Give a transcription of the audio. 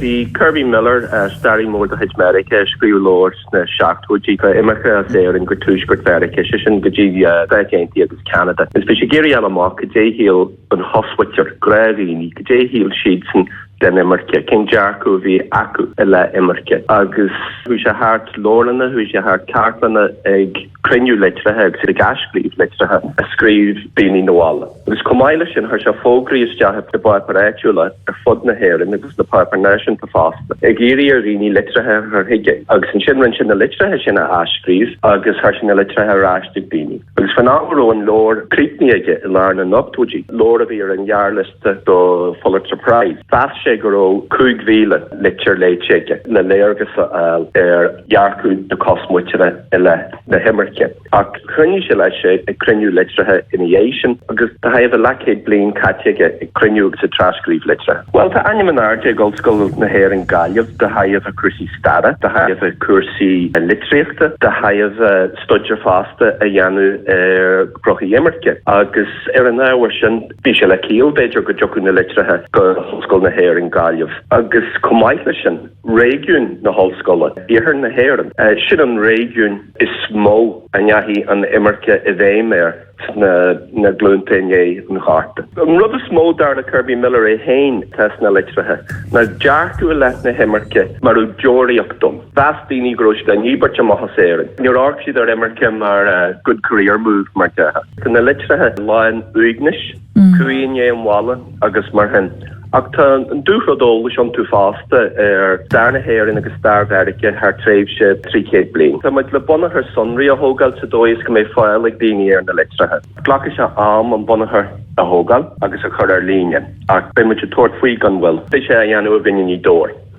Bhí Kerby Miller, staraí mór de chuid Mheiriceá, a scríobh leabhar sna seachtóidí faoi imirce as Éirinn go Tuaisceart Mheiriceá, sé sin go dtí na Stáit Aontaithe agus Ceanada. Bhí sé ag iarraidh a fháil amach cad é a shíl an chosmhuintir, gnáthdhaoine, cad é a shíl siadsan den imirce, cén dearcadh a bhí acu i leith imirce. Agus chuaigh sé thart leabharlanna, chuaigh sé thart cartlanna ag. cruinniú litrithe agus iad ag athscríobh litrithe a scríobh daoine 'na bhaile. Agus chomh maith leis sin, chuir sé fógraí isteach i bpáipéir áitiúla ar fud na hÉireann agus sna páipéir náisiúnta fosta, ag iarraidh ar dhaoine litrithe a chur chuige. Agus ansin, rinne sé na litrithe sin a athscríobh agus chuir sé na litrithe ar ais chuig daoine. Agus faoin am a raibh an leabhar críochnaithe aige i lár na n-ochtóidí, leabhar a bhí ar an ghearrliosta, don Phulitzer Prize. Mheas sé go raibh 5,000 litir léite aige le léargas a fháil ar dhearcadh na cosmhuintire i leith na himirce. Ach choinnigh sé leis ag cruinniú litrithe ina dhiaidh sin agus tá a thaobh a leathchéad bliain caite aige ag cruinniú agus ag trascríobh litrithe. Bhuel, tá ainm in airde ag Ollscoil na hÉireann Gaillimh de thaobh a cúrsaí staire, de thaobh a cúrsaí litríochta, de thaobh staidéar fosta a dhéanamh ar ghnoithí imirce agus ar an ábhar sin, Bhí sé le ciall, b'fhéidir, go dtiocfadh na litrithe go hOllscoil na hÉireann, Gaillimh, agus chomh maith leis sin, réigiún na hOllscoile, Iarthar na hÉireann. Sin an réigiún is mó a ndeachaigh an imirce i bhfeidhm air sna glúnta i ndiaidh an Ghorta. An rud is mó, dar le Kerby Miller é féin, atá sna litrithe ná dearcadh i leith na himirce mar dheoraíocht dom Mheas daoine go raibh siad á ndíbirt amach as Éirinn. Níor amharc siad ar imirce mar 'good career move' mar dhea. Tá na litrithe lán uaignis, cumhaidh i ndiaidh an bhaile agus mar sin. Ach tá an dúrud eolais iontu fosta ar stair na hÉireann agus stair Mheiriceá thar tréimhse trí chéad bliain. Tá muid le bunachar sonraí a thógáil sa dóigh is go mbeidh fáil ag daoine ar na litrithe. Glacfaidh sé am an bunachar a thógáil agus a chur ar líne ach beidh muid ag tabhairt faoi gan mhoill. Beidh sé á dhéanamh againn i nGaoth Dobhair.